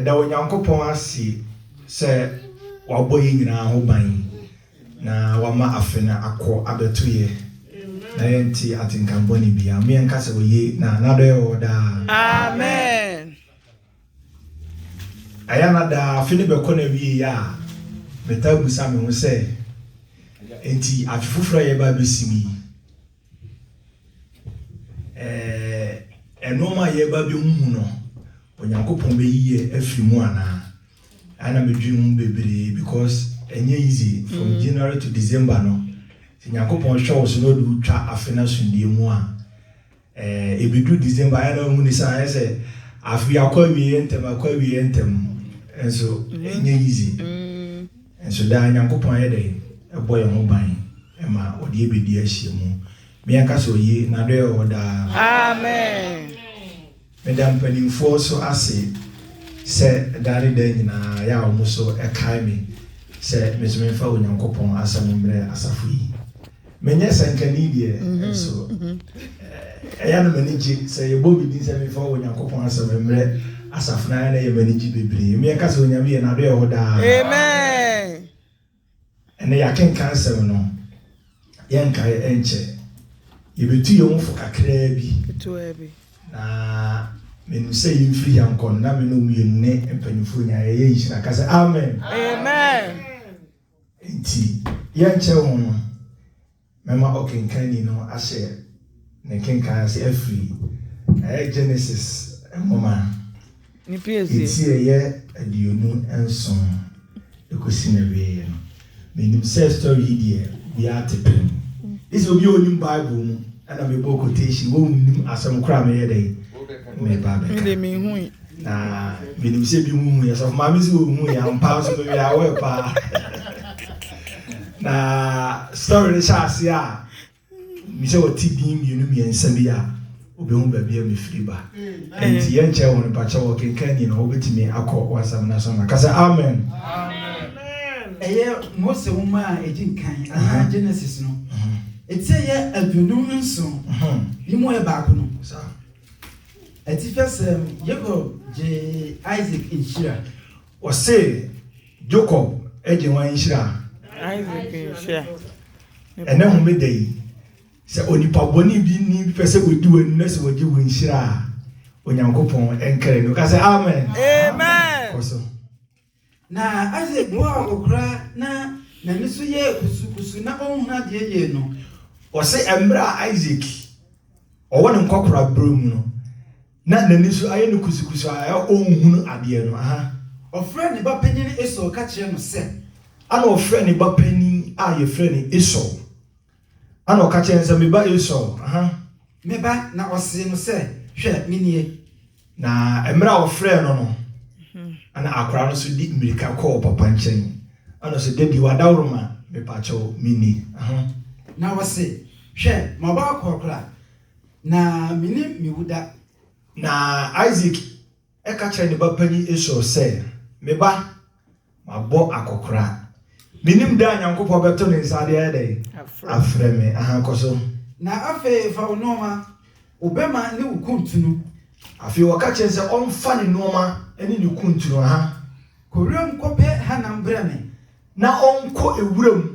Da Onyankopɔn ase sɛ wabɔ yɛn nyinaa ho ban na wama afe no akɔ abɛto yɛ na yɛnte atenka bɔne biara mu. Yɛnka sɛ oye na n'adɔyɛ wɔ hɔ daa. Amen. Ɛyɛ na daa afe no bɛkɔ na wie yɛ a, metaa busa me ho sɛ, enti afe foforɔ a yɛba abɛsi mu yi, Nnoɔma a yɛreba abɛhuhu no, Onyankopɔn bɛyiyi afiri mu anaa? Ɛna medwene ho bebree because ɛnyɛ easy from mm. January to December no. Sɛ Nyankopɔn hwɛ wo so na ɔde wotwa afe no asomdie mu a, ɛbɛduru December ayɛ na wahu ne sɛ ayɛ sɛ afe akɔ awieɛ ntɛm akɔ awieɛ ntɛm nso ɛnyɛ easy. Mm. Nso daa Nyankopɔn yɛ dɛn bɔ yɛn ho ban ma ɔde yɛ bedi ahyiamu. Me ankasa oye, nadɔɛ wɔ hɔ daa. Amen. Meda mpaninfoɔ so ase sɛ daa ne daa nyinaa yɛ a wɔn so kae me sɛ me nso memfa Onyankopɔn asɛm mmerɛ asafo yi. Menyɛ sɛnkani deɛ, nso ɛyɛ a na m'ani gye sɛ yɛbɔ me din sɛ memfa Onyankopɔn asɛm mmrɛ asafo no, ɛyɛ a na ɛyɛ m'ani gye bebree. Mmea ka sɛ, Onyame yɛ, N'adɔe wɔ hɔ daa. Amen. Ɛnnɛ yɛakenkan asɛm no, yɛnkae ɛnkyɛ. Yɛbɛtu yɛn ho fo kakraa bi, Ketewa bi. na menim sɛ yɛmfiri ha nkɔ no, na me ne wo mmienu ne mpanimfoɔ nyinaa yɛyɛ nhyira. Ka sɛ, Amen. Amen. Enti yɛnkyɛ ho no, mɛma ɔkenkanni no ahyɛ ne kenkan ase afiri. Ɛyɛ Genesis nwoma atiɛeɛ aduonu nson de kɔsi n'awieeɛ no. Menim sɛ story yi deɛ obiara te pɛn. Gye sɛ obi a ɔnim Bible mu na mebɔɔ quotation, wɔnnim asɛm koraa a meyɛ dɛn? Meba abɛka. Na menim sɛ bi mo huiɛ sɔfo maame sɛ ɔhuiɛ ampa nso mewɛ aware paa na story no hyɛ ase a mesɛ ɔte din mmienu mmiɛnsa bi a obɛhu baabi a mefiri ba nti yɛnkyɛ wɔn pakyɛ wɔ kenkan ni no wobɛtumi akɔ wasam no so no ka sɛ amen ɛyɛ mose wo ma a ɛgye nkan anaa genesis no ɛti ɛyɛ aduonum nson yi mu yɛ baako no Atifasɛm, Jacob gyee Isaac nhyira. Wɔse Jacob gye hwan nhyira? Isaac nhyira. Ɛnɛ homeda yi, sɛ onipa bɔne bi ni pɛ sɛ odi w'anim na sɛ wɔgye wo nhyira a, Onyankopɔn nkɛrɛ no. Ka sɛ amen. Amen. Kɔ so. Na Isaac boaa wɔ koraa na n'ani so yɛɛ kusukusu na ɔnhunu adeɛ yie no. Wɔse mmerɛ a Isaac ɔwɔ ne nkɔkoraberɛ mu no, na n'ani so ayɛ no kusukusu a ɛyɛ ɔnhunu adeɛ no, aha. Ɔfrɛɛ ne ba panin Esau ka kyerɛɛ no sɛ. Ɛna ɔfrɛɛ ne ba panin a yɛfrɛ no Esau. Ɛnna ɔka kyerɛɛ no sɛ, Me ba Esau, aha! Me ba, na ɔsee no sɛ, Hwɛ, menie. Na mmerɛ a ɔfrɛɛ no no, ɛnna akwadaa no nso de mmirika kɔɔ papa nkyɛn. Ɛnna ɔsɛ, Da bi, w'adaworoma, mepakyɛw, menni. Aha! Na ɔse, Hwɛ, m'abɔakɔkora, na menni me wuda. Na Isak Ɛka kyerɛɛ ne ba panin Esau sɛ, Me ba, mabɔ akɔkoraa. Menim da a Nyankopɔn bɛto ne nsa de ayɛ dɛn? Afrɛ me. Aha, kɔ so. Na afei fa wo nnoɔma, wo bɛma ne wo kuntunu. Afei wɔka kyerɛɛ no sɛ ɔmfa ne nnoɔma ne ne kuntunu. Aha. Kɔ wuram kɔpɛ hanam brɛ me. Na ɔnkɔ wuram.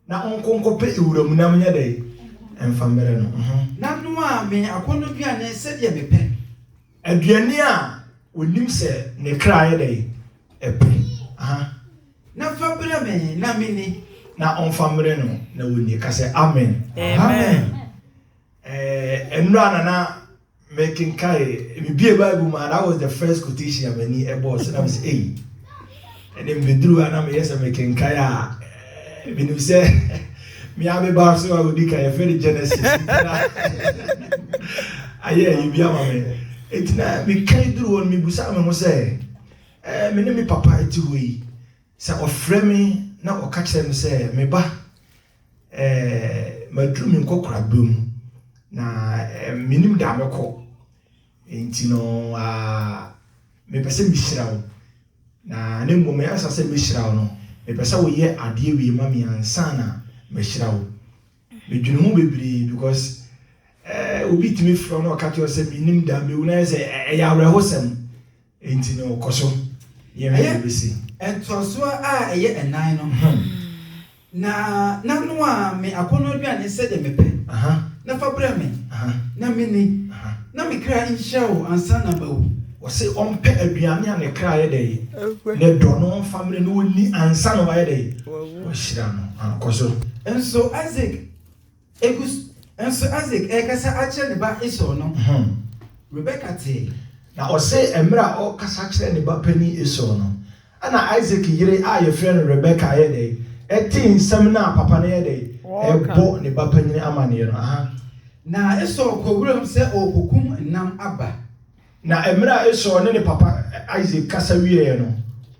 Na ɔnkɔ nkɔpɛ wuram nam nyɛ dɛn? Ɛmfa mmrɛ no. Na noa me akɔnnɔduane sɛdeɛ mepɛ. Aduane a ɔnim sɛ ne kra yɛ dɛn? Ɛpɛ. Na fa brɛ me na menni. Na ɔmfa mmrɛ no na ɔnni. Ka sɛ, Amen. Amen. Ɛɛ, nnora na na mekenkae, mebiee Bible mu a, that was the first quotation a m'ani bɔɔ so na mesɛ ei ɛne mbɛduru hɔ a na meyɛ sɛ mekenkae a eh, menim sɛ mea me ba so a wɔdi ka yɛfrɛ no genesis ayɛ ayi bi ama me ɛnti na mekan duru hɔ no mebusaa me ho sɛ eh, me ne me papa ɛte hɔ yi sɛ ɔfrɛ me na ɔka kyerɛ me sɛ me ba Maduru me nkɔkoraaberɛ mu, na mennim deɛ mɛkɔ. Nti no mepɛ sɛ mehyira wo. Na na mmom ansa sɛ mɛhyira wo no, mepɛ sɛ woyɛ adeɛ wei ma me ansa na mahyira wo. Medwene ho bebree because obi tumi frɛ wo na ɔka kyerɛ wo sɛ mennim da a mɛwu no ayɛ sɛ ɛyɛ awerɛhosɛm. Enti no, kɔ so. Yɛnhwɛ deɛ ɛbɛsi. Ɛtoasoɔ a ɛyɛ ɛnan no, na na noa me akɔnnɔaduane sɛdeɛ mepɛ, na fa brɛ me, na menni, na me kra nhyira wo ansa na mawu. Ɔse ɔmpɛ aduane a ne kra yɛ dɛn? Ne dɔ no ɔmfa mmerɛ na ɔnni ansa na wayɛ dɛn? Wahyira no. Kɔ so. Nso Isaac Egu so. Nso Isak rekasa akyerɛ ne ba Esau no, Rebeka tee. Na ɔse mmerɛ a ɔrekasa kyerɛ ne ba panin Esau no, ɛna Isak yere a yɛfrɛ no Rebeka yɛɛ dɛn? Ɛtee nsɛm no a papa no yɛ dɛn? Rebɔ ne ba panin amanneɛ no. Na Esau kɔɔ wuram sɛ ɔrekɔkum nam aba. Na mmerɛ a Esau ne ne papa Isak kasa wieeɛ no,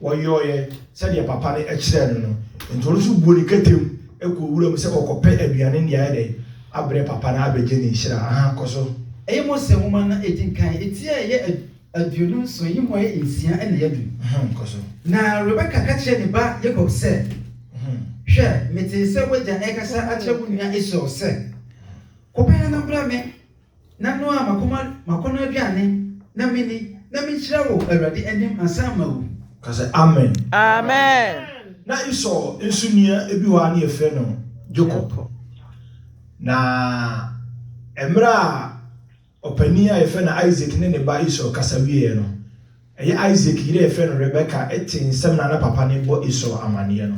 wɔyɔeɛ sɛdeɛ papa no kyerɛɛ no no, enti ɔno nso buo ne kɛtɛm kɔɔ wura mu sɛ ɔrekɔpɛ aduane de ayɛ dɛn? abrɛ papa no abɛgye ne nhyira. Ahaa, kɔ so. Ɛyɛ Mose Nwoma na ɛdi nkan, ti a ɛyɛ aduonu nson, nhoma yɛ nsia na ɛyɛ du. Kɔ so. Na Rebeka ka kyerɛɛ ne ba Yakob sɛ, Hwɛ, metee sɛ w'agya rekasa akyerɛ wo nua Esau sɛ, 'Kɔ pɛɛ na bra me. Na noa m'akoma m'akɔnnɔ aduane na menni, na menhyira wɔ Awurade anim ansa mawu. Ka sɛ, Amen! Amen! Na Esau nso nua bi hɔ a na yɛfrɛ no Jacob. Na mmerɛ a ɔpanin a yɛfrɛ no Isaac ne ne ba Esau kasa wieeɛ no, ɛyɛ Isaac yere a yɛfrɛ no Rebeka tee nsɛm no a na papa no rebɔ Esau amanneɛ no.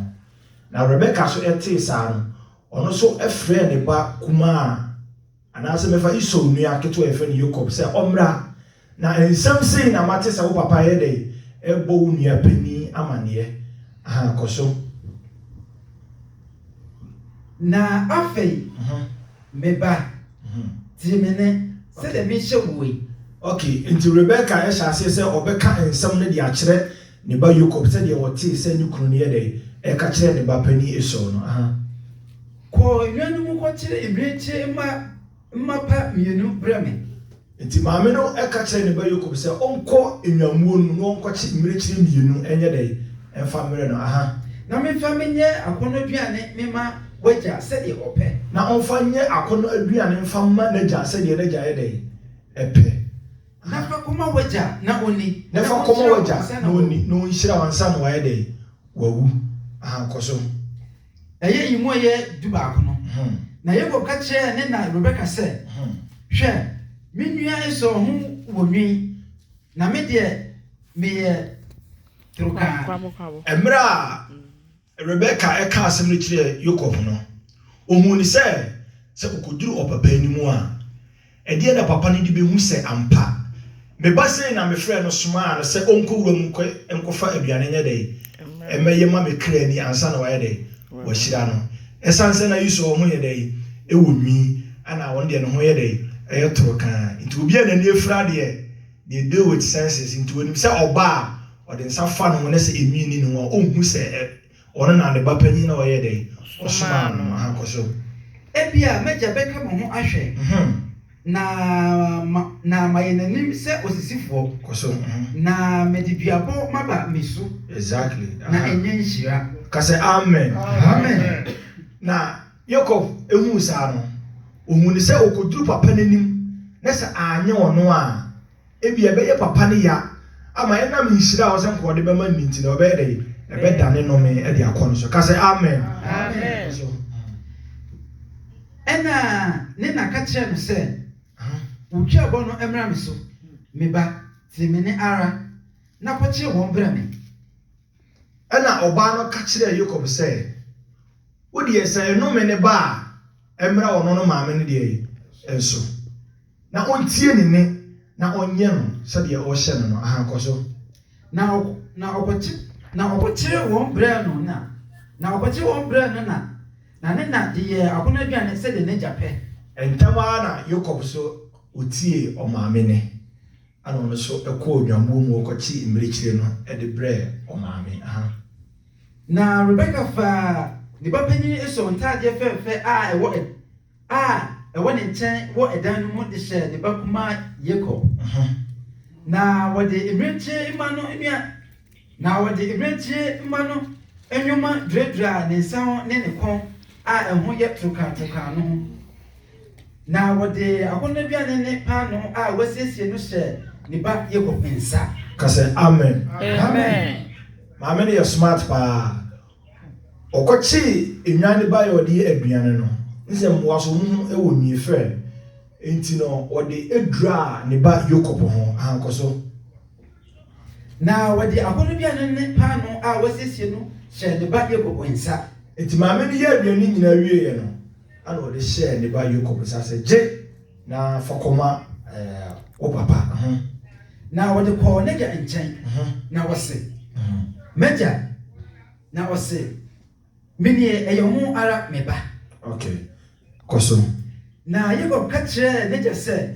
Na Rebeka nso tee saa no, ɔno nso frɛɛ ne ba kumaa Anaasɛ mefa Esau nua ketewa a yɛfrɛ no Yakob sɛ ɔmmra, na nsɛm sei na mate sɛ wo papa reyɛ dɛn? Rebɔ wo nua panin amanneɛ. Ahaa, kɔ so. Na afei, me ba, tie me nne, sɛdeɛ mehyɛ woɔ yi. Ok, enti Rebeka hyɛɛ aseɛ sɛ ɔbɛka nsɛm no de akyerɛ ne ba Yakob sɛdeɛ ɔtee sɛ ne kunu no yɛ dɛn? Reka kyerɛ ne ba panin Esau no. Ahaa. Kɔ nnwa no mu kɔkyere mmirekyie mma mmapa mmienu brɛ me. Enti maame no ka kyerɛɛ ne ba Yakob sɛ ɔnkɔ nnwammuo no mu na ɔnkɔkye mmirekyie mmienu nyɛ dɛn? mfa mmrɛ no, aha. Na memfa me nyɛ akɔnnɔduane mema w'agya sɛdeɛ ɔpɛ. Na ɔmfa nyɛ akɔnnɔ aduane mfa mma n'agya sɛdeɛ n'agya yɛ dɛn? pɛ. Na fa kɔma w'agya na ɔnni. Na fa kɔma w'agya na ɔnni, na ɔnhyira wo ansa na wayɛ dɛn? wawu. Aha, kɔ so. Ɛyɛ eyi mu a ɛyɛ dubaako no, na Yakob ka kyerɛɛ ne na Rebeka sɛ, Hwɛ, me nua Esau ho wɔ nwi, na me deɛ, meyɛ torokraa. Mmerɛ a Rebeka kaa asɛm no kyerɛɛ Yakob no, ɔhuu no sɛ, sɛ ɔkɔduru ɔpapa anim a, Ɛdeɛn na papa no de bɛhu sɛ ampa me ba sei na mefrɛɛ no somaa no sɛ ɔnkɔ wura mu nkɔ nkɔfa aduane nyɛ dɛn mmɛyɛ ma me kra ni ansa na wayɛ dɛn wahyira no ɛsiane sɛ na Esau ho yɛ dɛn ɛwɔ nwi ana ɔno deɛ ne ho yɛ dɛn ɛyɛ toro kaa nti obi a n'ani afira deɛ deɛ deal with senses nti ɔnim sɛ ɔba a ɔde nsa fa ne ho na sɛ enwi nni ne ho a ɔnhu sɛ Ɔno na ne ba panyin na ɔyɛɛ dɛn? Ɔsomaa no ma ankɔsɛw. Ebia m'agya bɛka me ho ahwɛ na ma na mayɛ n'anim sɛ osisifoɔ. Kɔ so. Na mede duabɔ maba me su. Exactly. Aha. Na ɛnyɛ nhyira. Ka sɛ, Amen. Amen. Na Yakob huu saa no, ohuu no sɛ okoduru papa no anim, na sɛ anyɛ ɔno a. Ebia ɛbɛyɛ papa ne ya ama ɛnam nhyira a ɔsɛ nka ɔde bɛma no nti na ɔbɛyɛ dɛ? Ɛbɛdane nnome de akɔ no so. Ka sɛ, Amen. Amen. Ɛnna ne na ka kyerɛɛ no sɛ, Wo tweabɔ no mmra me so, me ba, tie me nne ara, na kɔkyere wɔn brɛ me. Ɛnna ɔbaa no ka kyerɛɛ Yakob sɛ, Wo deɛ, sɛ nnome ne ba a, ɛmmra ɔno ne maame no deɛ so, na ɔntie ne nne na ɔnyɛ no sɛdeɛ ɔrehyɛ no no. Aha, kɔ so. Na ɔko kyeree wɔn brɛɛ no na, na ɔko kyeree wɔn brɛɛ no na, na ne na de yɛɛ akɔnnɔ aduane sɛdeɛ n'agya pɛ. Ntɛm ara na Yakob nso ɔtiee ɔmaame nne. Ɛnna ɔno nso kɔɔ nnwammuo mu kɔkyee mmirekyire no de brɛɛ ɔmaame. Na Rebeka faa ne ba panin Esau ntadeɛ fɛɛfɛ a ɛwɔ a ɛwɔ ne nkyɛn wɔ ɛdan no mu de hyɛɛ ne ba kumaa Yakob. Na wɔde mmirekyie mma no nnuane. Na wɔde mmirekyie mma no nyoma duraduraa ne nsa ho ne ne kɔn a ɛho yɛ torokaatorkaa no ho. Na wɔde akɔnnɔaduane ne paanoo a wɔasiesie no hyɛɛ ne ba Yakob nsa. Ka sɛ, Amen! Amen! Maame no yɛ smart paa. Ɔkɔkyee nnwan de baeɛ a ɔde yɛ aduane no. N sɛ mmoa nso wɔn ho wɔ nwi fɛ. Enti no, ɔde duraa ne ba Yakob ho. Ahankɔ so. Na wɔde akɔnnɔduane ne paanoo a wɔasiesie no hyɛɛ ne ba Yakob nsa. Enti maame no yɛɛ aduane no nyinaa wieeɛ no, ɛnna ɔde hyɛɛ ne ba Yakob nsa sɛ, Gye, na fa kɔma wo papa. Na wɔde kɔɔ n'agya nkyɛn, na wɔse, M'agya! Na ɔse. Me deɛ, ɛyɛ wɔn ara, me ba. Ok, kɔ so. Na Yakob ka kyerɛɛ n'agya sɛ,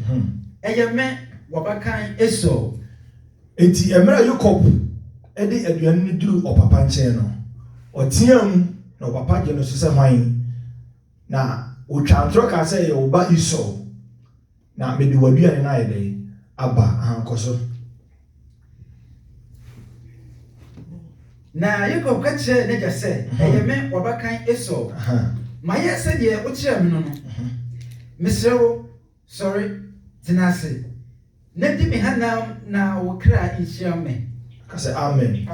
Ɛyɛ me, w'abakan Esau. Enti mmerɛ a Yakob de aduane no duruu ɔpapa nkyɛn no, ɔteaam, na ɔpapa gyee no so sɛ, Hwan? Na ɔtwaa ntorɔ kaa sɛ, Ɛyɛ wo ba Esau. Na mede w'aduane no ayɛ dɛn? Aba ankɔ so. Na Yakob ka kyerɛɛ n'agya sɛ, Ɛyɛ me w'abakan Esau. Mayɛ sɛdeɛ wokyerɛɛ me no no. Mesrɛ wo, sɔre, tena ase, na di me hanam na wo kra nhyira me. Ka sɛ, Amen!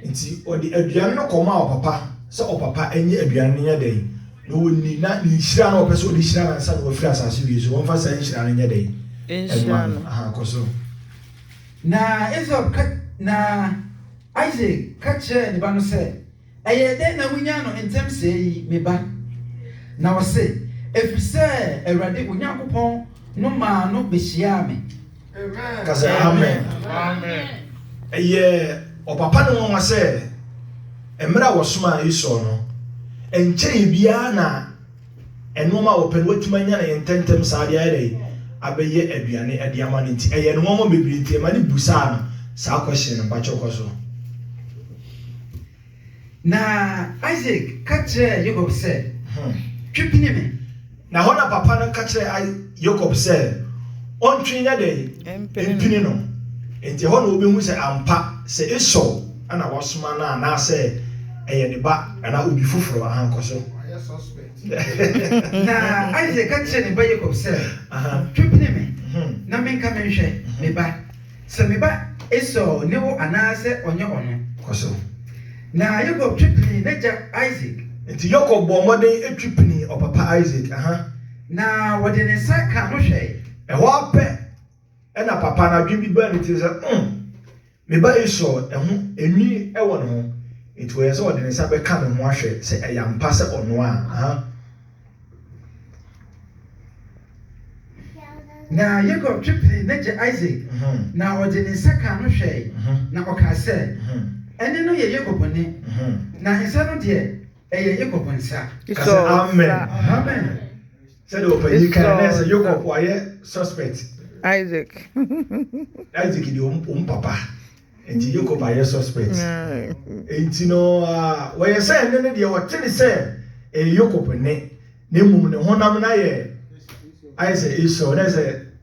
Enti ɔde aduane no kɔmaa ɔpapa sɛ ɔpapa nyɛ aduane no nyɛ dɛn na ɔnni, na ne nhyira na ɔpɛ sɛ ɔde hyira no ansa na wafiri asase wie so, ɔmfa saa nhyira no nyɛ dɛn mma no. Aha, kɔ so. Na Esau ka, na Isak ka kyerɛɛ ne ba no sɛ. Ɛyɛɛ dɛn na wunyaa no ntɛm sɛɛ yi, me ba? Na ɔse, Efiri sɛ Awurade, wo Nyankopɔn no maa no behyiaa me. Ka sɛ, Amen. Ɛyɛ ɔpapa no nwanwa sɛ mmerɛ a wɔsomaa Esau no, ɛnkyɛeɛ biara na Nnoɔma a wɔpɛ no watumi anya no ntɛntɛm saa de ayɛ dɛn? Abɛyɛ aduane de ama no nti ɛyɛ no nwanwa bebree nti ɛma no busaa no saa question no. Mpakyɛw kɔ so. Na Isak ka kyerɛɛ Yakob sɛ, Twe pini me. Na hɔ na papa no ka kyerɛɛ Yakob sɛ ɔntwe nyɛ dɛn? Mpini no. Enti ɛhɔ na wɔbɛhu sɛ ampa sɛ Esau. na wasoma no anaasɛ ɛyɛ ne ba anaa obi foforɔ a, nkɔ so. Na Isak ka kyerɛɛ ne ba Yakob sɛ, Twe pene me, na menka menhwɛ, me ba, sɛ me ba Esau ne wo anaasɛ ɔnyɛ ɔno. Kɔ so. Na Yakob twe penee n'agya Isak. Enti Yakob bɔɔ mmɔden twe penee ɔpapa Isak. Na ɔde ne nsa kaa no hwɛe. Ɛhɔ ara pɛ na papa no adwene bi baa ne tirim sɛ, Um, Me ba Esau ho nwi wɔ ne ho, enti wɔyɛ sɛ ɔde ne nsa bɛka ne ho ahwɛ sɛ ɛyɛ ampa sɛ ɔno a. Na Yakob twe penee n'agya Isak, na ɔde ne nsa kaa no hwɛe, na ɔkaa sɛ, Ɛnne no yɛ Yakob nne, na nsa no deɛ. Ɛyɛ Yakob nsa. Ka sɛ, Amen. Amen. Sɛdeɛ ɔpanyin kae no, na ɛsɛ Yakob wayɛ suspect. Isaac. Isaac deɛ wɔn papa. Nti Yakob ayɛ suspect. Nti no, wɔyɛ sɛ ɛne no deɛ wɔte ne sɛ ɛyɛ Yakob ne, na mmom ne honam no ayɛ ayɛ sɛ Esau, na ɛsɛ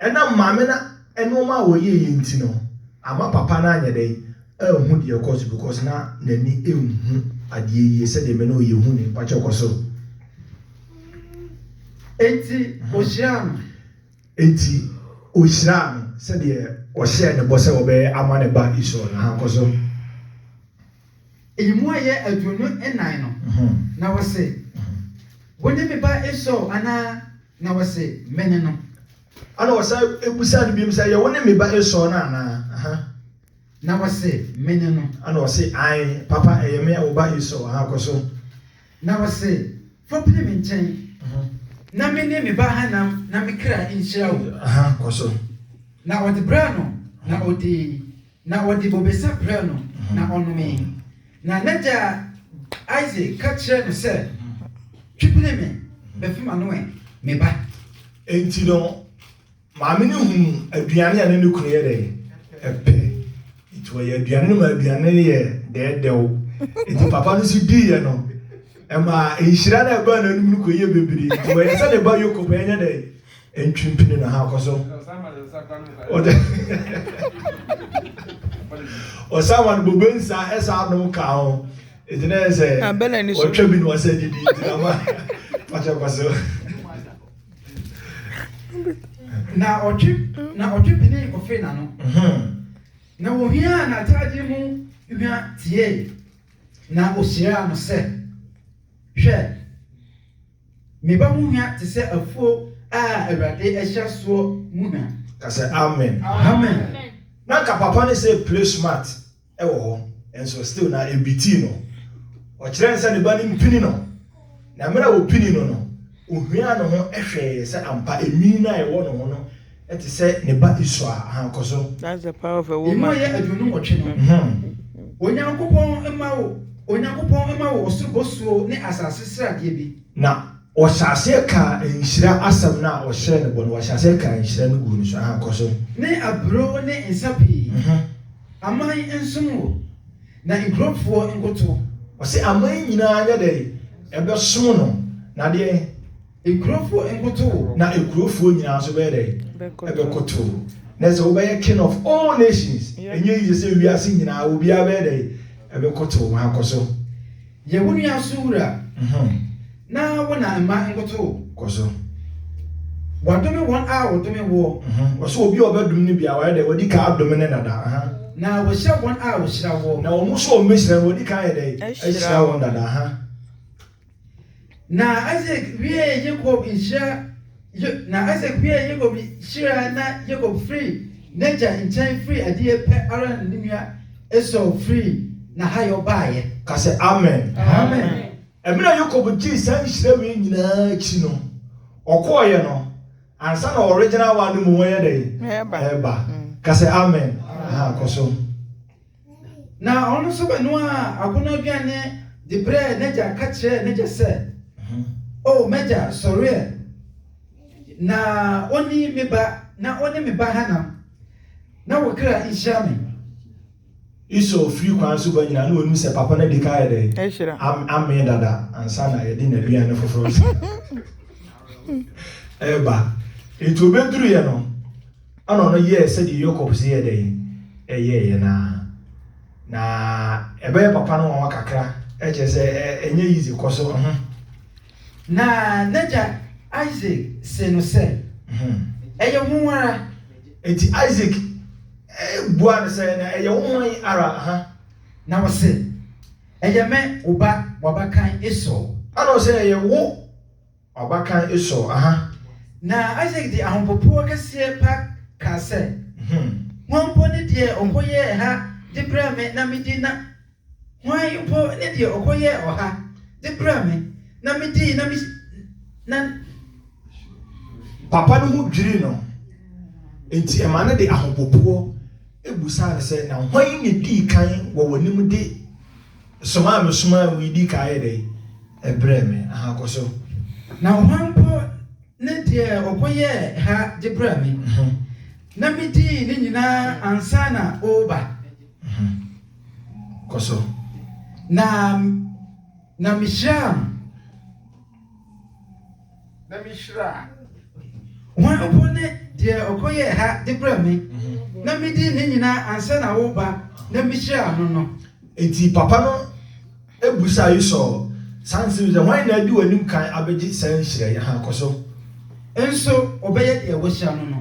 Ɛnam maame no nnoɔma a ɔyɛeɛ nti no, amma papa no anyɛ dɛn, anhu deɛ ɛrekɔ so because na n'ani nhu adeɛ yie sɛdeɛ me ne wo yɛhu no yi, mpakyɛw kɔ so. Enti ɔhyiraa no. Enti ɔhyiraa no sɛdeɛ ɔhyɛɛ ne bɔ sɛ ɔbɛyɛ ama ne ba Esau no, ahankɔ so. Eyi mu ayɛ aduonu nnan no, na wɔse, Wone me ba Esau anaa? Na ɔse, Mene no. Ɛna wɔsan bisaa no biom sɛ, Ɛyɛ wone me ba Esau no anaa? Na ɔse, Mene no. Ɛna ɔse, Ae, papa, ɛyɛ me, wo ba Esau. Aha, kɔ so. Na ɔse, Fa pene me nkyɛn, na me ne me ba hanam na me kra nhyira wo. Aha, kɔ so. Na ɔde braa no, na ɔdii. Na ɔde bobesa brɛɛ no, na ɔnomee. Na n'agya Isak ka kyerɛɛ no sɛ, Twe pene me bɛfem ano ɛ, me ba. Enti no, maame no huu aduane a na ne kunu yɛ dɛ pɛ, enti ɔyɛɛ aduane no ma aduane no yɛɛ dɛɛdɛw. Enti papa no nso diiɛ no, ɛmaa nhyira no a ɛbaa n'anom no kɔyɛɛ bebree, enti ɔyɛɛ sɛ ne ba Yakob a ɛnyɛ dɛ Ntwi mpini na ha kɔ so. Osama no bobe nsa ɛsa anom ka ho. Eti na ɛsɛ ɔtwa bi na ɔsɛ didi nti na ma ɔtwa kɔ so. Na ɔtwe na ɔtwe pini kɔfee n'ano. Na wɔhiaa n'atadeɛ mu hwa tiee na ɔhyiraa no sɛ, Hwɛ! Me ba ho hwa te sɛ afuo a Awurade ahyira soɔ mu hwa. Ka sɛ, Amen. Amen. Na nka papa no sɛ play smart wɔ hɔ nso still na ebitii no. Ɔkyerɛɛ no sɛ ne ba no mpini no na mmerɛ a ɔpini no no ɔhwiaa ne ho hwɛeɛ sɛ ampa enwii no a ɛwɔ ne ho no Te sɛ ne ba Esau a. Ahaa, kɔ so. That's the power of a woman. Emu ɛyɛ aduonu nwɔtwe no. Hmmm. Onyankopɔn mma wo, Onyankopɔn mma wo ɔsoro bosuo ne asase sradeɛ bi. Na wɔhyɛ aseɛ kaa nhyira asɛm no a ɔhyɛɛ no bɔ no, wɔhyɛ aseɛ kaa nhyira no guu no so. Ahaa, kɔ so. Ne aburoo ne nsa pii. Aman nsom wo, na nkurofoɔ nkoto. Ɔse aman nyinaa nyɛ dɛn? Ɛbɛsom no, na deɛn? Nkurofoɔ nkoto wo. Na nkurofoɔ nyinaa nso bɛyɛ dɛn? Bɛkoto wo. Na sɛ wobɛyɛ king of all nations. Ɛnyɛ easy sɛ wiase nyinaa obiara bɛyɛ dɛn? Ɛbɛkoto wo. Haa, kɔ so. Yɛ wo nua so wura. Na wo na mma nkoto wo. Kɔ so. Wɔadome wɔn a wɔdome woɔ. Ɔse obi a ɔbɛdome no biara wayɛ dɛn? Wadi kan adome no dada. Na wahyira wɔn a wɔhyira woɔ. Na wɔn nso a wɔbɛhyira no, wadi kan ayɛ dɛn? Ahyira wɔn dada. Na Isak wiee Yakob nhyira na Isak wiee Yakob nhyira na Yakob firii n'agya nkyɛn firii adeɛ pɛ ara na ne nua Esau firii n'ahayɔ baeɛ. Ka sɛ, Amen. Amen. Mmerɛ Yakob gyee saa nhyira wei nyina ara akyi no, ɔkɔeɛ no, ansa na original one no mmom reyɛ dɛn? Reba. Ka sɛ, Amen. Ahaa, kɔ so. Na ɔno nso bɛnoaa akɔnnɔaduane de brɛɛ n'agya ka kyerɛɛ n'agya sɛ, O m'agya, sɔre ɛ, na ɔnni me ba na ɔne me ba hanam, na wo kra nhyira me. Esau firi kwan so ba nyinaa, na ɔnim sɛ papa no adi kan ayɛ dɛn? Amee dada ansa na yɛde n'aduane foforɔ nso reba. Enti ɔbɛduruiɛ no, Ɛnna ɔno yɛɛ sɛdeɛ Yakob se yɛ dɛn? Ɛyɛeɛ no ara. Na ɛbɛyɛ papa no nwanwa kakra, kyerɛ sɛ ɛnyɛ yize. Kɔ so. Mhm. Na n'agya Isak see no sɛ, mhm. Ɛyɛ wo ara. Enti Isak eh, buaa no sɛ, Na ɛyɛ wo hwan ara? Aha. Na ɔse, Ɛyɛ me, wo ba, w'abakan Esau. Ɛnna ɔse, Ɛyɛ wo. W'abakan Esau, aha. Na Isak de ahopopoɔ kɛseɛ pa kaa sɛ, Hwan mpo ne deɛ ɔkɔyɛɛ ha de brɛɛ me na medi na hwan mpo ne deɛ ɔkɔyɛɛ ɔha de brɛɛ me na medii na na. Papa no ho dwirii no, enti ɛma no de ahopopoɔ bisaa no sɛ, Na hwan na edii kan wɔ w'anim de. som a mesomaa wo yi di kan yɛ dɛn brɛɛ me? Aha, kɔ so. Na hwan mpo ne deɛ ɔkɔyɛɛ ha de brɛɛ me, na medii ne nyinaa ansa na woreba? Kɔ so. Na, na mehyiraa no. na mihyiraa. Hwan mpo ne deɛ ɔkɔyɛɛ ha de brɛɛ me, na midi ne nyinaa ansa na woreba, na mihyiraa no no? Enti papa no bisaa Esau saa nsɛm yi sɛ, Hwan na adi w'anim kan abɛgye saa nhyira yi? Aha, kɔ so. Nso ɔbɛyɛ deɛ woahyira no no.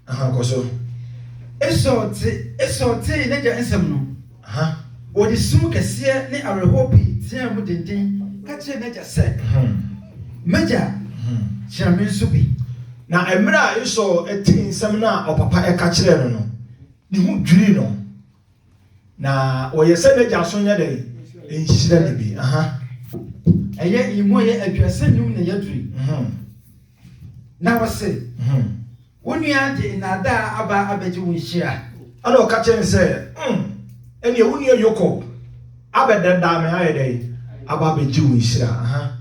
Aha, kɔ so. Esau te, Esau tee n'agya nsɛm no. Aha. Ɔde sum kɛseɛ ne awerɛhoɔ pii teaa mu denden ka kyerɛɛ n'agya sɛ, M'agya, kyerɛ me nso bi. Na mmerɛ a Esau tee nsɛm no a ɔpapa ka kyerɛɛ no no, ne ho dwirii no. Na ɔyɛ sɛ n'agya so nyɛ dɛn? Nhyira ne bi. Aha. Ɛyɛ emu ɛyɛ aduasa nnum na ɛyɛ dure. Mhm. Na ɔse, mhm. wo nua de nnaadaa aba abɛgye wo nhyira. Ɛna ɔka kyerɛ no sɛ, mm, ɛneɛ wo nua Yakob abɛdɛdaa me ayɛ dɛn? Aba abɛgye wo nhyira. Aha.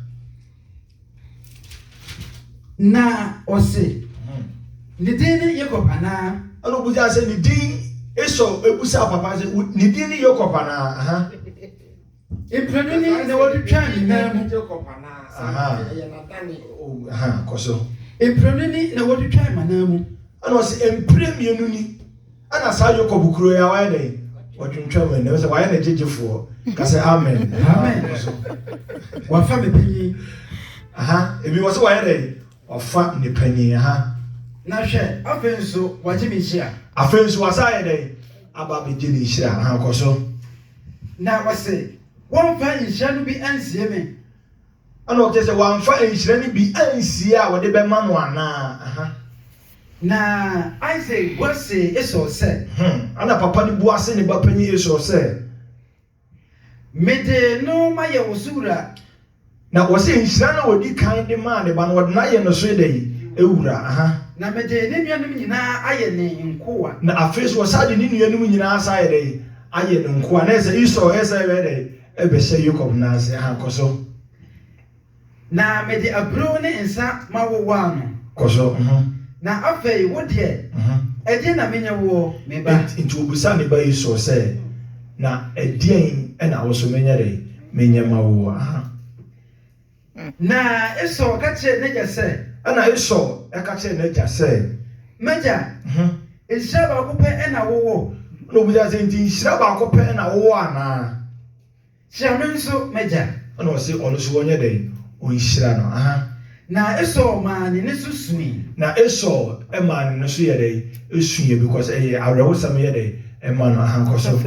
Na ɔse, Ne din ne Yakob anaa? Ɛna ɔbusaa sɛ, Ne din, Esau busaa papa sɛ, Ne din ne Yakob anaa? Mprenu ni na wɔde twaa ne nan mu. Kɔ so. Mprenu ni na wɔde twaa m'anan mu. Ɛna ɔse, Mpire mmienu ni. Ɛna saa Yakob kuro yi a wayɛ dɛ ɔtwentwɛn mu ɛnɛ sɛ wayɛ ne gyegyefoɔ ka sɛ amen amen wafa ne panyin aha ebi wɔ sɛ wayɛ dɛ wafa ne panyin aha na hwɛ afei nso wagye ne nhyira afei nso wasa ayɛ dɛ aba abɛgye ne nhyira aha kɔ so na wɔse wɔmfa nhyira no bi ansie me Ɛna ɔkyerɛ sɛ wamfa nhyira no bi ansie a wɔde bɛma no anaa? Na Isak bua see Esau sɛ. Hmm, ɛna papa no bua see ne ba panyin Esau sɛ. Mede no mayɛ wo so wura. Na wɔse nhyira no a ɔdi kan de maa ne ba no, wɔde no ayɛ ne so dɛn? Wura. Aha. Na mede ne nuanom nyinaa ayɛ ne nkoa. Na afei nso wɔsan de ne nuanom nyinaa san ayɛ dɛn? Ayɛ ne nkoa. Na ɛyɛ sɛ Esau, ɛyɛ sɛ ɛbɛyɛ dɛn? Ebɛ hyɛ Yakob nan ase ha, kɔ so. Na me de aburow ne nsa ma wo waa no. Kɔ so, mhm. Na afei wo deɛ, mhm. Ɛdeɛn na me nyɛ woɔ, me ba? Ent, enti ɔbisaa ne ba Esau sɛ, Na ɛdeɛn na wo nso me nyɛ dɛn, me nyɛ ma woɔ, aha. Na Esau ka kyerɛɛ n'agya sɛ. Ɛnna Esau ka kyerɛɛ n'agya sɛ. M'agya, nhyira baako pɛ na wowɔ. Ɛnna obisaa sɛ, Enti nhyira baako pɛ na wowɔ anaa? Hyira me nso, m'agya. Ɛnna ɔse ɔno nso ɔnyɛ dɛn? Ɔnhyira no. Aha. Na Esau maa ne nne so sui. Na Esau maa ne nne so yɛɛ dɛn? Suiɛ, because ɛyɛ awerɛhosɛm yɛ dɛn? Ma no. Aha, kɔ so.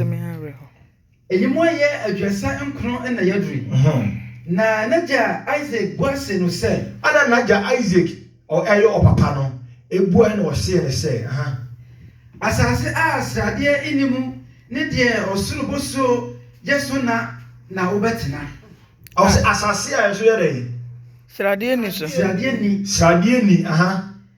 Eyi mu ayɛ aduasa nkron na yɛaduru yi. Na n'agya Isaac bua see no sɛ. Ɛnna n'agya Isaac a ɔyɛ ɔpapa no buae na ɔsee no sɛ. Asase a sradeɛ nni mu ne deɛ ɔsoro bosuo yɛ so na na wobɛtena. Ɔse asase a ɛso yɛ dɛn? Sradeɛ nni so. Sradeɛ nni. Sradeɛ nni.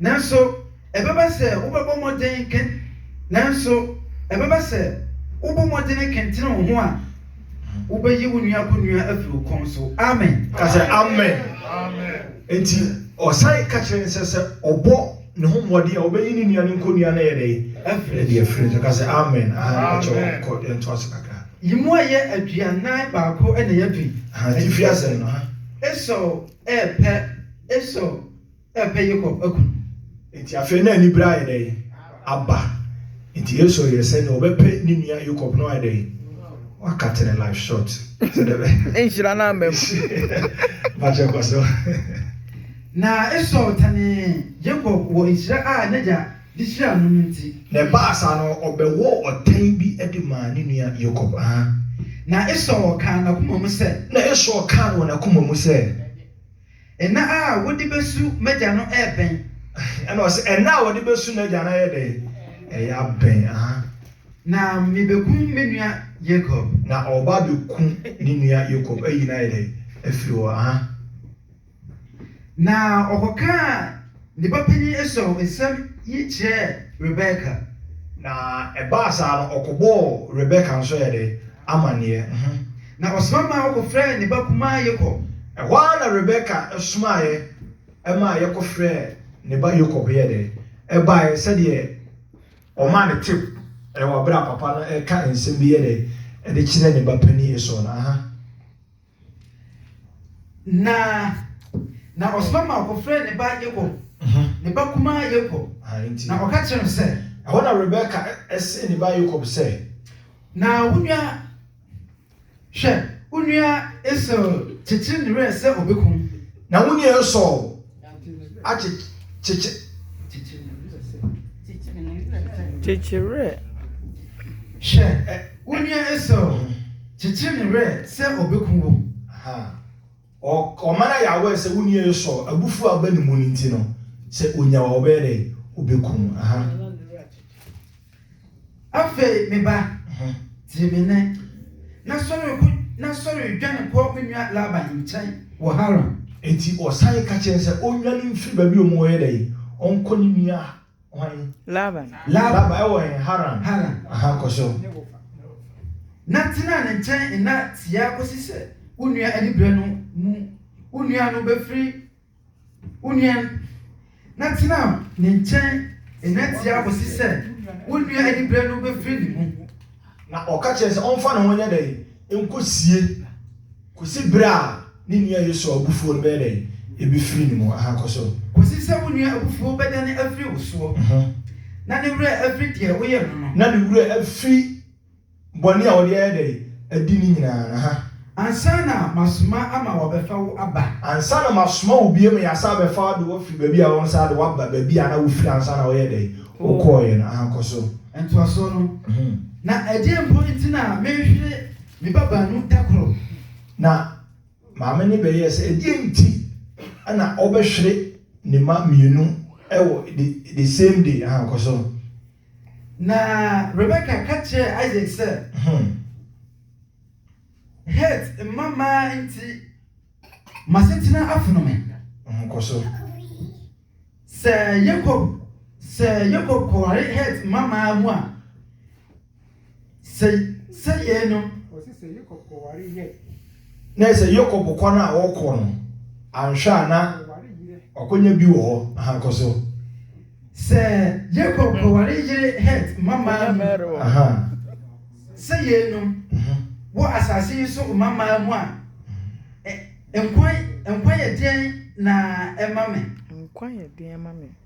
Nanso, ɛbɛba sɛ wobɛbɔ mmɔden ke, nanso ɛbɛba sɛ wobɔ mmɔden kentene wo ho a, wobɛyi wo nua kɔnnua afiri wo kɔn so. Amen. Ka sɛ, Amen. Enti, ɔsan ka kyerɛɛ no sɛ, sɛ ɔbɔ ne ho mmɔden a, ɔbɛyi ne nua no kɔnnua no ayɛ dɛn? Afiri ne so. Afiri ne so. Ka sɛ, Amen. Ahaa, me pa kyɛw, kɔ, yɛntoa so kakra. Yi mu ayɛ aduanan baako na yɛadu yi. Ahaa, te firi asɛm no. Ahaa. Esau repɛ, Esau repɛ Yakob aku no. Enti afei na anibere ayɛ dɛn? Aba. Enti Esau yɛɛ sɛ nea ɔbɛpɛ ne nua Yakob no ayɛ dɛn? Wakate ne life short. Sɛ dɛ bɛ. Nhyira no amba mu. Mpakyɛ kɔ so. Na Esau tanee Yakob wɔ nhyira a n'agya de hyiraa no no nti. Na ɛbaa saa no, ɔbɛwɔɔ ɔtan bi de maa ne nua Yakob. Aha. Na Esau kaa n'akoma mu sɛ. Na Esau kaa wɔ n'akoma mu sɛ. Nna a wode besu m'agya no rebɛn. Ɛnna ɔse, Nna a wɔde besu n'agya no ayɛ dɛn? Ɛyɛ abɛn, aha. Na mebekum me nua Yakob. Na ɔreba abeku ne nua Yakob, ayi no ayɛ dɛn? Afiri hɔ, aha. Na ɔkɔkaa Ne ba panyin Esau nsɛm yi kyerɛɛ Rebeka. Na ɛbaa saa no, ɔkɔbɔɔ Rebeka nso yɛ dɛn? Amanneɛ. Ho. Na ɔsoma maa wɔkɔfrɛɛ ne ba kumaa Yakob. Ɛhɔ ara na Rebeka somaeɛ maa yɛkɔfrɛɛ ne ba Yakob yɛɛ dɛn? Ɛbaeɛ sɛdeɛ ɔmaa no tip wɔ berɛ a papa no reka nsɛm bi yɛ dɛn? De kyerɛ ne ba panin Esau no. Aha. Na na ɔsoma ma wɔkɔfrɛɛ ne ba Yakob, ne ba kumaa Yakob, na ɔka kyerɛɛ no sɛ. Ɛhɔ na Rebeka see ne ba Yakob sɛ. Na wo nua, hwɛ, wo nua Esau kyekyere ne werɛ sɛ ɔbɛkum. Na wo nua Esau. Kyekye werɛ. Hwɛ wo nua Esau ho, kyekyere ne werɛ sɛ ɔbɛku wo. Ɔman ayɛ aware sɛ wo nua Esau abufuo a aba ne mu no nti no, sɛ ɔnya wo a ɔbɛyɛ dɛn? Ɔbɛku wo. Afei, me ba, tie me nnɛ, na sɔre kɔ, na sɔre dwane kɔ me nua Laban nkyɛn wɔ Haran. Enti wɔsan ka kyerɛɛ no sɛ onnwane mfiri baabi a wɔwɔ yɛ dɛn? Ɔnkɔ ne nua hwan? Laban. Laban, ɛwɔ he? Haran. Haran. Aha, kɔ so. Ne wɔfa. Na tena ne nkyɛn nna tiaa kɔsi sɛ wo nua aniberɛ no mu, wo nua no bɛfiri. Wo nua no, na tena ne nkyɛn nna tiaa kosi sɛ wo nua anibere no befiri ne mu. Na ɔka kyerɛɛ sɛ ɔmfa ne ho nyɛ dɛn? Nkosie, kosi bere a ne nua Yosua abufuo no bɛyɛ dɛn? Ebefiri ne mu. Aha, kɔ so. Kosi sɛ wo nua abufuo bɛdane afiri wo soɔ, na ne werɛ afiri deɛ woyɛɛ no no. Na ne werɛ afiri. Bɔne a wɔde ayɛ dɛn adi no nyinaa, aha. Ansa na masoma ama wɔabɛfa wo aba. Ansa na masoma wo bio ma yɛasan abɛfa wo de wo afiri baabi a wɔsan de wo aba, baabi a na wofiri ansa na woyɛɛ dɛn? Wokɔeɛ no, aha, kɔ so. Ntoasoɔ no, Na ɛdeɛn mpo nti na merehwere me ba baanu da koro? Na maame no bɛyɛɛ sɛ, Ɛdeɛn nti na ɔbɛhwere ne mma mmienu wɔ the the same day? Aha, kɔ so. Na Rebeka ka kyerɛɛ Isak sɛ, Het mma mmaa nti m'asetena afono me. Kɔ so. Sɛ Yakob, sɛ Yakob kɔware Het mma mmaa mu a. Sɛ sɛ yɛn no. Wɔsi sɛ Yakob kɔware yɛ. Na ɛsɛ Yakob kwan a ɔkɔ no anhwɛ a na ɔkɔnya bi wɔ hɔ ahankɔ so. Sɛ Yakob kɔware yere Het mmammaa mu. Sɛ yɛn no mhm. wɔ asase yi so mmammaa mu a nkwa nkwa yɛ deɛn na ɛma me. Nkwa yɛ deɛn ma me.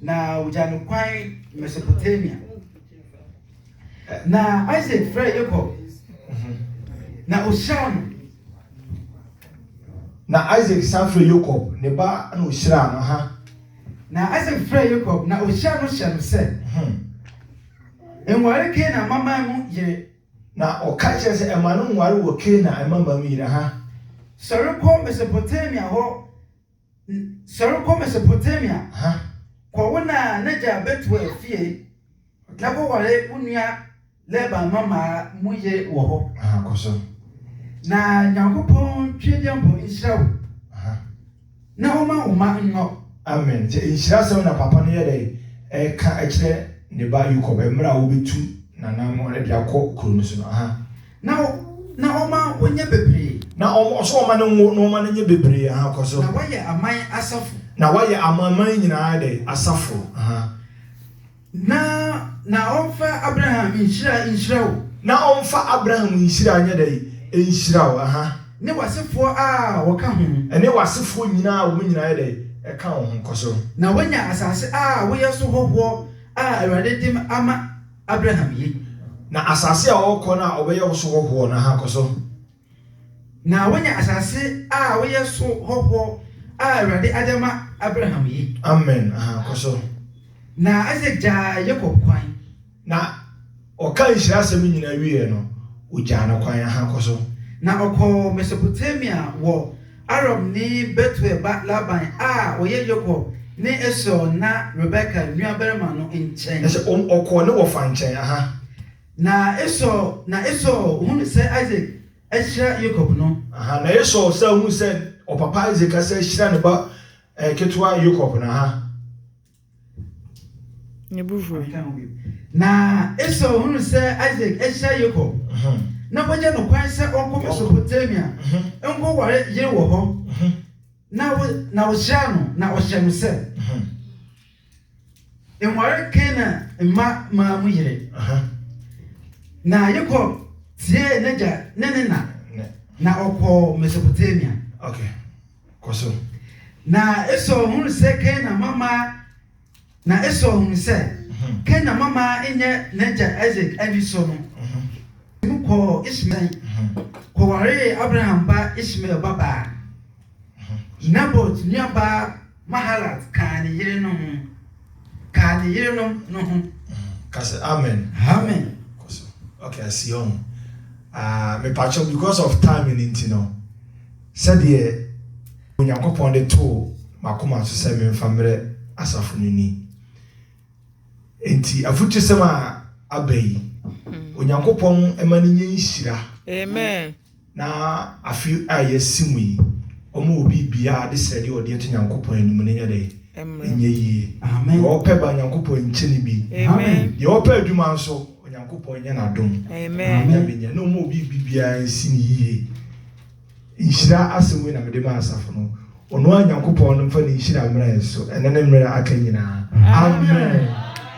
Na wogyaa no kwan Mesopotamia. Na Isak frɛɛ Yakob, mhm. na ohyiraa no. Na Isak san frɛɛ Yakob, ne ba na ohyiraa no ha. Na Isak frɛɛ Yakob, na ohyiraa no hyɛ no sɛ, mhm. Nware Kanaan mmammaa mu yere. Na ɔka kyerɛ sɛ ɛma no nware wɔ Kanaan mmammaa mu yere ha. Sɔre kɔ Mesopotamia hɔ Sɔre kɔ Mesopotamia kɔ wo na n'agya Betuel fie na kɔware wo nua Laban mmammaa mu yere wɔ hɔ. Na Nyankopɔn Tweaduampɔ nhyira wo na ɔma wo mma nnɔ. Amen. Nti nhyirasɛm na papa no yɛ dɛn ɛreka kyerɛ ne ba Yakob mmerɛ a wɔbɛtu nananom de akɔ kuro no so no. Na wo, na ɔma wo nyɛ bebree. Na ɔma, ɔsɛ ɔma no nwo, na ɔma no nyɛ bebree, aha, kɔ so. Na wayɛ aman asafo. Na wayɛ amanaman nyinaa dɛ, asafo, aha. Na, na ɔmfa Abraham nhyira nhyira wo. Na ɔmfa Abraham nhyira nyɛ dɛn? Nhyira wo, aha. Ne w'asefoɔ a wɔka ho. Ne w'asefoɔ nyinaa a wɔn nyinaa yɛ dɛn? Ɛka wo ho, kɔ so. Na wanya asase a woyɛ so hɔhoɔ a Awurade de ama. Abraham ye, na asase a ɔrekɔ no a ɔbɛyɛ so hɔhoɔ no, kɔ so. Na woanya asase a woyɛ so hɔhoɔ a Awurade ade ama Abraham ye. Amen, kɔ so. Na Isak gyaa Yakob kwan. Na ɔkaa nhyira asɛm no nyinaa wieeɛ no, ɔgyaa no kwan, kɔ so. Na ɔkɔɔ Mesopotamia wɔ. Arabni Betuel ba Laban a ɔyɛ Yakob ne Esau nã Rebeka nuabarima no nkyɛn. Ɛsɛ wɔn ɔkɔɔ ne wɔfa nkyɛn. Aha. Na Esau, na Esau hunu sɛ Isak ahyira Yakob no. Aha, na Esau san hunu sɛ ɔpapa Isak asan ahyira ne ba eh, ketewa Yakob no. Aha. Ne bo fuui. Na Esau hunuu sɛ Isak ahyia Yakob, na wagya no kwan sɛ ɔnkɔ Mesopotamia nkɔware yere wɔ hɔ, na ɔhyiraa no, na ɔhyɛɛ no sɛ, Nware Kanaan mma mmaa mu yere. Na Yakob tiee n'agya ne ne na, na ɔkɔɔ Mesopotamia. Kɔ so. Na Esau hunu sɛ Kainan mama na Esau hunu sɛ mhm. Kainan mama nyɛ n'agya Isaac ani so no mhm. mu kɔɔ Ismael mhm. kɔwaree Abraham ba Ismael babaa Nabot nuabaa Mahalat kaa ne yerenom ho kaa ne yerenom no ho. Kasi amen. Amen. Okay, I see you. Uh, ah, me pacho because of time in Intino. Sɛdeɛ Onyankopɔn de too m'akoma so sɛ memfa mmrɛ asafo no ni. Enti afutusɛm a aba yi, Onyankopɔn mma no nyɛ nhyira. Amen. Na afe a yɛasi mu yi, ɔma obi biara de srɛdeɛ a ɔde ato Nyankopɔn anim no nyɛ dɛn? Ɛnyɛ yie. Deɛ ɔpɛ ba, Nyankopɔn nkyɛ no bi. Deɛ ɔpɛ adwuma nso, Onyankopɔn nyɛ no adom. Amen. Nyame nyɛ. Na ɔma obi biribiara nsi no yie. Nhyira asɛm wei na mede ma asafo no, Ɔnoaa Nyankopɔn no mfa ne nhyira mmra yɛn so ɛnɛ ne mmerɛ a aka nyinaa. Amen.